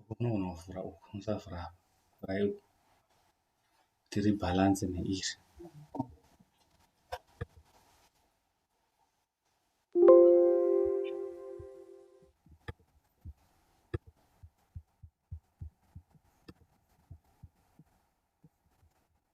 Kune unovhura uku musavhura apa vhurai uku kuti ribhalanze neiri.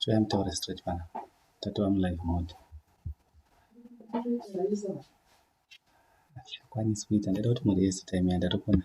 Try mtaure straight pana. Tatova mu live mode. Achakwanisi kuita ndaida kuti muri yese time yandari kuona.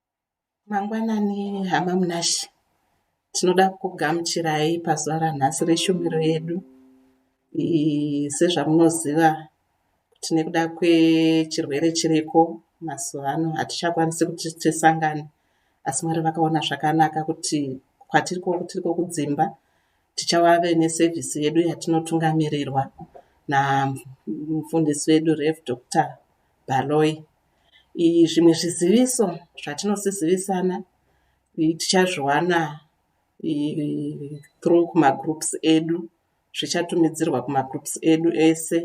Mangwanani hama Munashe, tinoda kukugamuchirai pazuva ranhasi reshumiro yedu. Sezvamunoziva kuti nekuda kwechirwere chiriko mazuva ano hatichakwanisi kuti tisangane asi Mwari vakaona zvakanaka kuti kwatiri tiriko kudzimba tichave nesevhisi yedu yatinotungamirirwa namufundisi wedu Rev Doctor Baloyi. Zvimwe zviziviso zvatinosisivisana tichazviwana through kuma groups edu. Zvichatumidzirwa kuma groups edu ese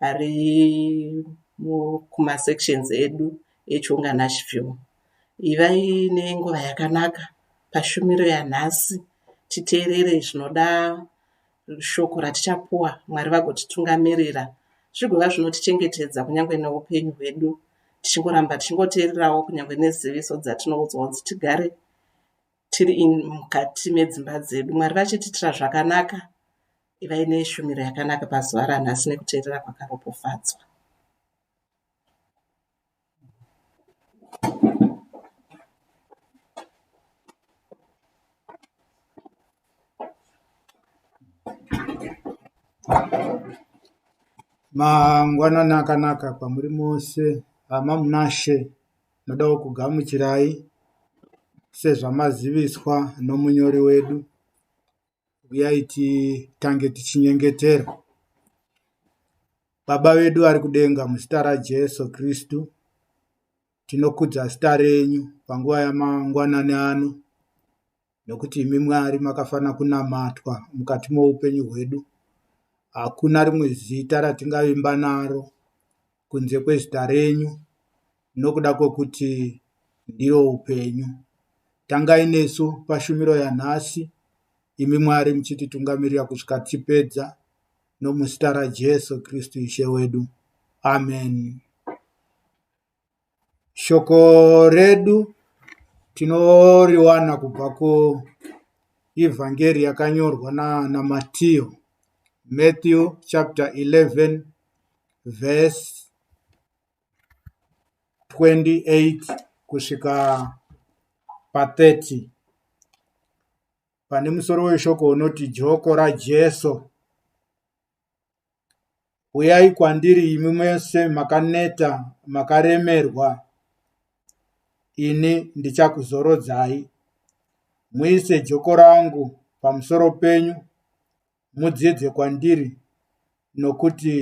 ari kuma sections edu eChonga naShivhimu. Ivai nenguva yakanaka paShumiro yanhasi. Titeerere zvinoda Shoko ratichapuwa, Mwari vagotitungamirira zvigova zvinotichengetedza kunyange neupenyu hwedu, tichingoramba tichingoteererawo kunyange neziviso dzatinoudzwa kunzi tigare tiri in mukati medzimba dzedu. Mwari vachititira zvakanaka, ivai neshumiro yakanaka pazuva ranhasi nekuteerera kwakaropofadzwa. Mangwanani akanaka kwamuri mose, hama munashe, nodawo kugamuchirai sezvamaziviswa nomunyori wedu. uyai titange tichinyengetera. Baba vedu vari kudenga, muzita raJesu Kristu, tinokudza zita renyu panguva yamangwanani ano, nokuti imi Mwari makafanira kunamatwa mukati moupenyu hwedu. Hakuna rimwe zita ratingavimba naro kunze kwezita renyu, nokuda kwokuti ndiro upenyu. Tangai nesu pashumiro yanhasi, imi Mwari muchititungamirira kusvika tichipedza, nomuzita raJesu Kristu Ishe wedu. Ameni. Shoko redu tinoriwana kubva kuEvhangeri yakanyorwa naana Matiyo, Matthew chapter 11 verse 28 kusvika pa30. Pane musoro weshoko unoti joko raJesu. Uyai kwandiri imi mese makaneta makaremerwa, ini ndichakuzorodzai. Muise joko rangu pamusoro penyu, mudzidze kwandiri, nokuti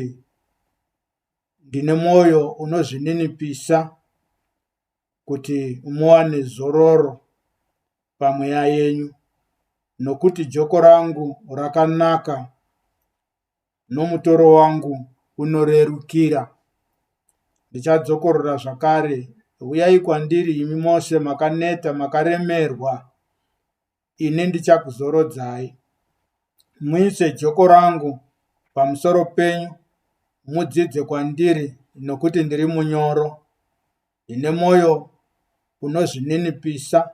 ndine mwoyo unozvininipisa kuti muwane zororo pamweya yenyu, nokuti joko rangu rakanaka nomutoro wangu unorerukira. Ndichadzokorora zvakare, huyai kwandiri imi mose makaneta makaremerwa, ini ndichakuzorodzai. Muise joko rangu pamusoro penyu, mudzidze kwandiri, nokuti ndiri munyoro, ndine mwoyo unozvininipisa,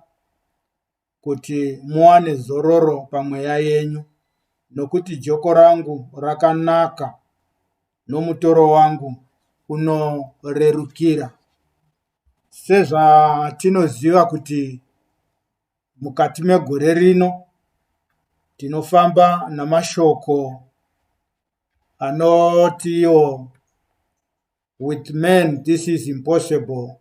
kuti muwane zororo pamweya yenyu, nokuti joko rangu rakanaka nomutoro wangu unorerukira. Sezvatinoziva kuti mukati megore rino tinofamba namashoko anotiwo With man this is impossible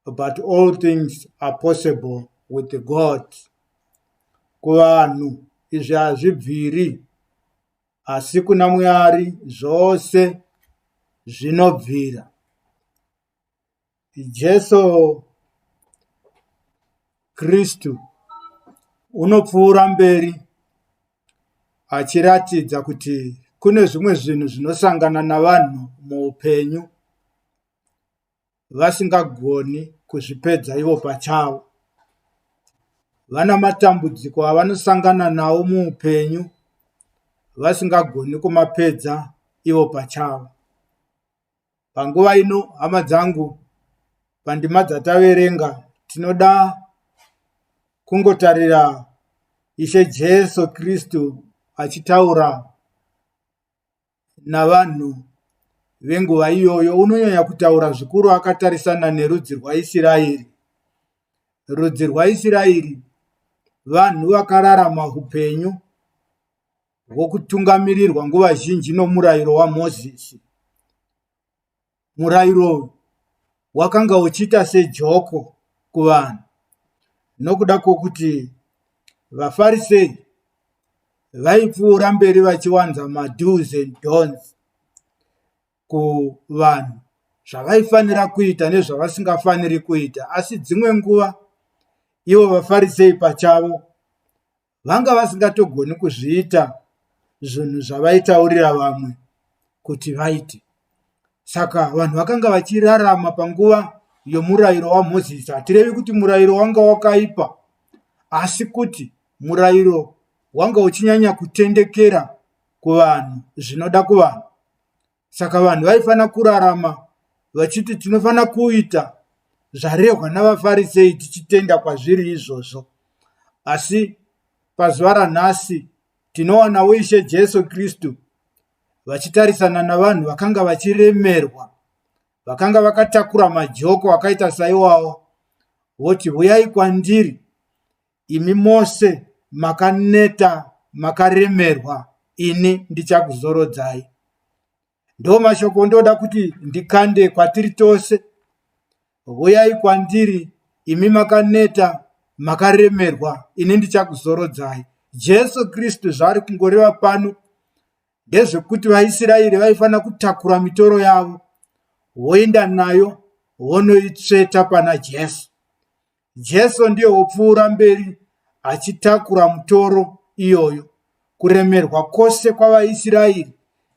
but all things are possible with God. Kuvanhu izvi hazvibviri asi kuna Mwari zvose zvinobvira. Jesu Kristu unopfuura mberi achiratidza kuti kune zvimwe zvinhu zvinosangana navanhu muupenyu vasingagoni kuzvipedza ivo pachavo. Vana matambudziko avanosangana nawo muupenyu vasingagoni kumapedza ivo pachavo. Panguva ino hama dzangu pandima dzataverenga tinoda kungotarira Ishe Jesu Kristu achitaura navanhu venguva iyoyo unonyanya kutaura zvikuru akatarisana nerudzi rwaIsiraeri. Rudzi rwaIsiraeri vanhu vakararama upenyu vokutungamirirwa nguva zhinji nomurayiro waMozisi. Murayiro uyu wakanga uchiita sejoko kuvanhu nokuda kwokuti vaFarisei vaipfuura mberi vachiwanza mado's and don'ts kuvanhu zvavaifanira kuita nezvavasingafaniri kuita asi dzimwe nguva ivo vaFarisei pachavo vanga vasingatogoni kuzviita zvinhu zvavaitaurira vamwe kuti vaite saka vanhu vakanga vachirarama panguva yomurayiro wamozisi hatirevi kuti murayiro wanga wakaipa asi kuti murayiro wanga uchinyanya kutendekera kuvanhu zvinoda kuvanhu saka vanhu vaifanira kurarama vachiti tinofanira kuita zvarehwa navafarisei tichitenda kwazviri izvozvo asi pazuva ranhasi tinowanawo ishe jesu kristu vachitarisana navanhu vakanga vachiremerwa vakanga vakatakura majoko akaita saiwawo voti huyai kwandiri Imi mose makaneta makaremerwa ini ndichakuzorodzai. Ndomashoko ondoda kuti ndikande kwatiri tose. Huyai kwandiri imi makaneta makaremerwa ini ndichakuzorodzai. Jesu Kristu zvaari kungoreva pano ndezvekuti vaIsiraeri vaifanira kutakura mitoro yavo voenda nayo vonoitsveta pana Jesu. Jesu ndiye wopfuura mberi achitakura mutoro iyoyo, kuremerwa kwose kwavaIsraeri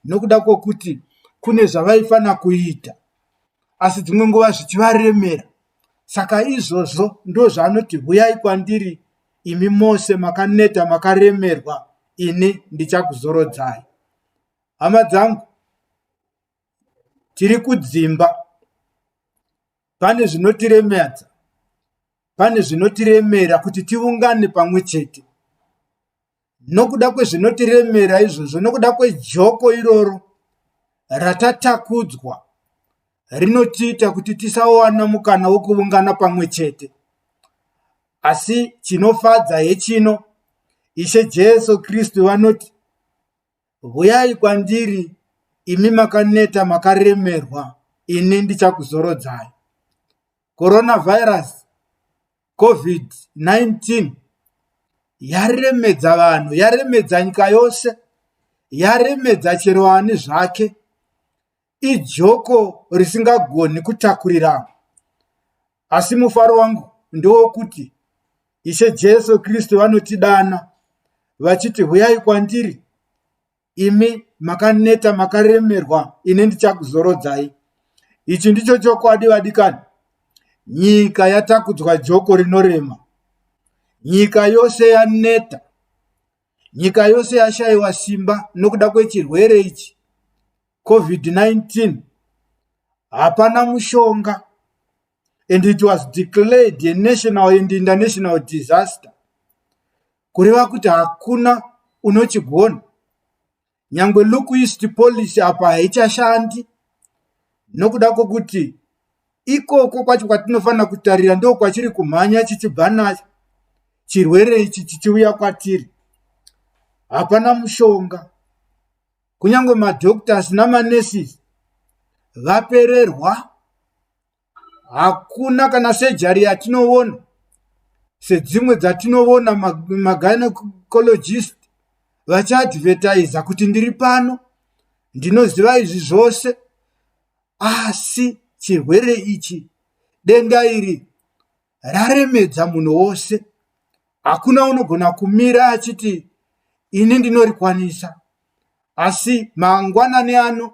nokuda kwokuti kune zvavaifanira kuita, asi dzimwe nguva zvichivaremera. Saka izvozvo ndozvaanoti, huyai kwandiri imi mose makaneta makaremerwa, ini ndichakuzorodzai. Hama dzangu, tiri kudzimba pane zvinotiremadza pane zvinotiremera kuti tiungane pamwe chete nokuda kwezvinotiremera izvozvo nokuda kwejoko iroro ratatakudzwa rinotiita kuti tisawana mukana wokuungana pamwe chete asi chinofadza hechino ishe jesu kristu vanoti Huyai kwandiri imi makaneta makaremerwa ini ndichakuzorodzai. Coronavirus COVID-19 yaremedza vanhu, yaremedza nyika yose, yaremedza chero ani zvake. ijoko risingagoni kutakurira. Asi mufaro wangu ndewokuti Ishe Jesu Kristu vanotidana vachiti, huyai kwandiri imi makaneta makaremerwa, ini ndichakuzorodzai. Ichi ndicho chokwadi vadikani. Nyika yatakudzwa joko rinorema. Nyika yose yaneta. Nyika yose yashaiwa simba nokuda kwechirwere ichi COVID-19. Hapana mushonga and it was declared a national and international disaster. Kureva kuti hakuna unochigona. nyangwe luquist policy apa haichashandi nokuda kwokuti ikoko kwacho kwatinofanira kutarira ndo kwachiri kumhanya chichibva nacho chirwere ichi chichiuya kwatiri hapana mushonga kunyange madoctors namanesis vapererwa hakuna kana sejari yatinoona sedzimwe dzatinoona magainocologist vachiadvertiza kuti ndiri pano ndinoziva izvi zvose asi chirwere ichi denga iri raremedza munhu wose hakuna unogona kumira achiti ini ndinorikwanisa asi mangwanani ano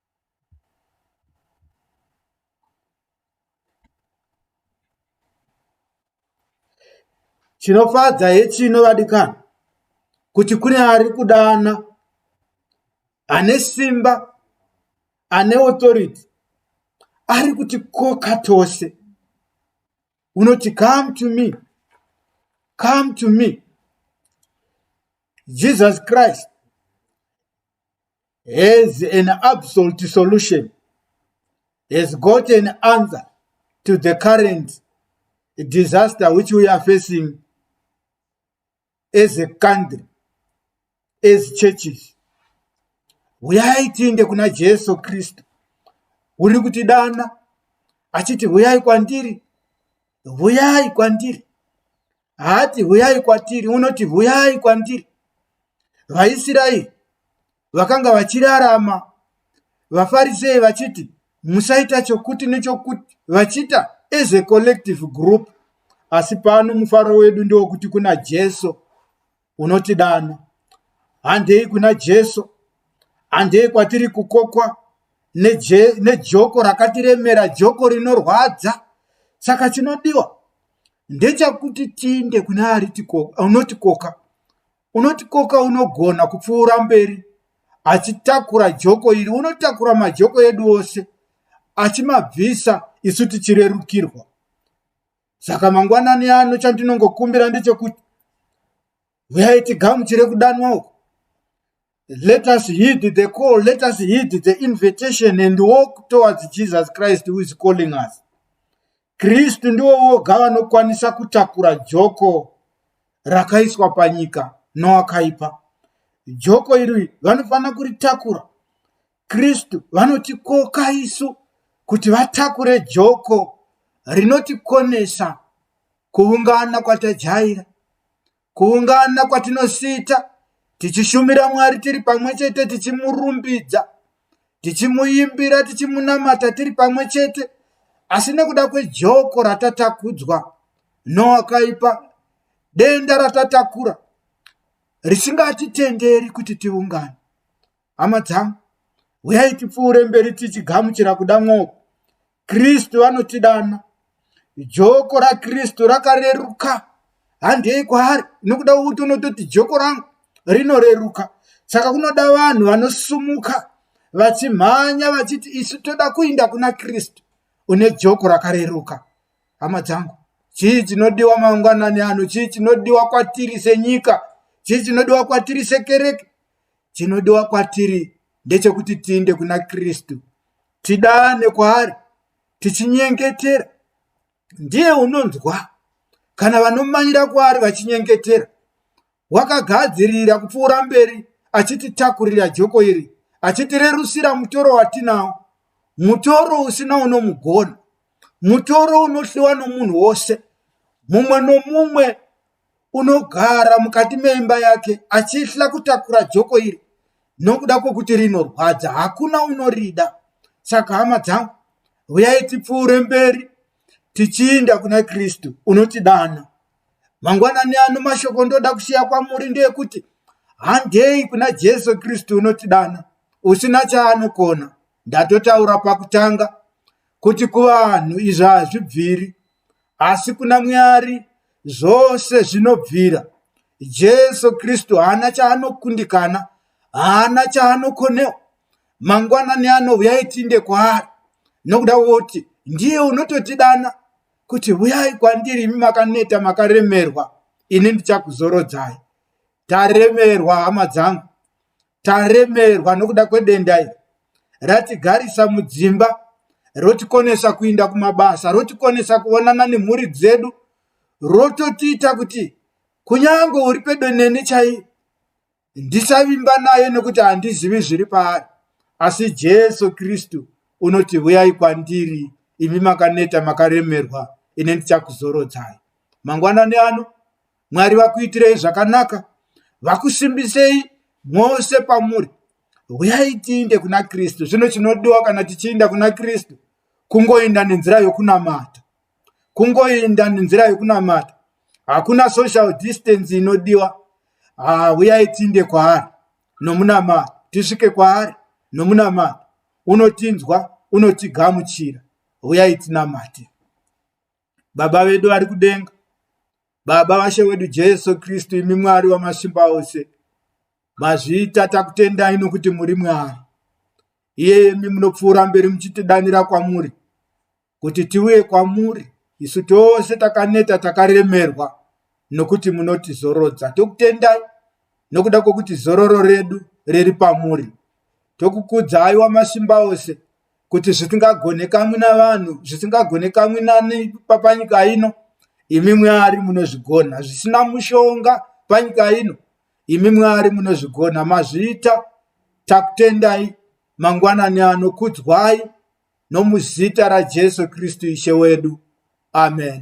Chinofadza hechino vadikani kuti kune ari kudana ane simba ane authority ari kuti koka tose unoti come to me come to me jesus christ has an absolute solution, has got an answer to the current disaster which we are facing as a country, as churches. Huyai tiende kuna Jesu Kristu. Uri kuti dana achiti huyai kwandiri. Huyai kwandiri. haati huyai kwatiri unoti huyai kwandiri vaisraeri vakanga vachirarama vafarisei vachiti musaita chokuti nechokuti vachiita as a collective group asi pano mufaro wedu ndewokuti kuna jesu unotidana. Handei kuna Jesu, handei kwatiri kukokwa neje, nejoko rakatiremera, joko rinorwadza. Saka chinodiwa ndechakuti tiinde kuna ari tikoka, unotikoka unotikoka unogona kupfuura mberi achitakura joko iri unotakura majoko edu ose achimabvisa isu tichirerukirwa saka mangwanani ano chandinongokumbira ndechekuti huyai tigamuchire kudanwa uku let us heed the call let us heed the invitation and walk towards jesus christ who is calling us kristu ndiwo woga vanokwanisa kutakura joko rakaiswa panyika noakaipa joko iri vanofanira kuritakura Kristu vanotikoka isu kuti vatakure joko rinotikonesa kuungana kwatajaira, kuungana kwatinosita tichishumira Mwari tiri pamwe chete tichimurumbidza, tichimuimbira, tichimunamata tiri pamwe chete, asi nekuda kwejoko ratatakudzwa nowakaipa, denda ratatakura risingatitenderi kuti tiungane. Hama dzangu, huyai tipfuure mberi tichigamuchira kuda mwoyo. Kristu anotidana. Joko raKristu rakareruka. Handei kwaari, nokuda kwokuti unototi joko rangu rinoreruka. Saka kunoda vanhu vanosumuka vachimhanya vachiti isu toda kuinda kuna Kristu une joko rakareruka. Hama dzangu, chii chinodiwa mangwanani ano? Chii chinodiwa kwatiri senyika? Chii chinodiwa kwatiri sekereke? chinodiwa kwatiri ndechekuti tiinde kuna kristu tidane kwaari tichinyengetera ndiye unonzwa kana vanomanyira kwaari vachinyengetera wakagadzirira kupfuura mberi achititakurira joko iri achitirerusira mutoro watinawo mutoro usina unomugona mutoro unohliwa nomunhu wose mumwe nomumwe unogara mukati meimba yake achihla kutakura joko iri nokuda kwokuti rinorwadza hakuna unorida saka hama dzangu huyai tipfuure mberi tichiinda kuna kristu unotidana mangwanani ano mashoko ndoda kusiya kwamuri ndeekuti handei kuna jesu kristu unotidana usina chaanokona ndatotaura pakutanga kuti kuvanhu izvi hazvibviri asi kuna mwari zvose zvinobvira jesu kristu haana chaanokundikana haana chaanokonewa mangwanani anouya itinde kwaari nokuda woti ndiye unototidana kuti huyai kwandiri imi makaneta makaremerwa ini ndichakuzorodzai Taremerwa hama dzangu, taremerwa nokuda kwedenda iri. Ratigarisa mudzimba, rotikonesa kuinda kumabasa, rotikonesa kuonana nemhuri dzedu, rototiita kuti kunyange uri pedo neni chaiye ndisavimba naye nokuti handizivi zviri paari. Asi Jesu Kristu unoti huyai kwandiri imi makaneta makaremerwa ine ndichakuzorodzai mangwanani ano mwari vakuitirei zvakanaka vakusimbisei mose pamuri huyai tiinde kuna kristu zvino chinodiwa kana tichiinda kuna kristu kungoinda nenzira yokunamata kungoinda nenzira yokunamata hakuna social distance inodiwa ah, huyai tiinde kwaari nomunamata tisvike kwaari nomunamata unotinzwa unotigamuchira huyai tinamate Baba vedu vari kudenga, Baba vashe wedu Jesu Kristu, imi Mwari wamasimba ose, mazvita takutendai nokuti muri Mwari. Iyemi munopfuura mberi muchitidanira kwamuri, kuti tiuye kwamuri, isu tose takaneta takaremerwa, nokuti munotizorodza. Tokutendai nokuda kwokuti zororo redu riri pamuri. Tokukudzai wamasimba ose, kuti zvisingagonekamwi navanhu zvisingagonekamwi nani papanyika ino imi mwari munozvigona zvisina mushonga panyika ino imi mwari munozvigona mazviita takutendai mangwanani ano kudzwai nomuzita rajesu kristu ishe wedu amen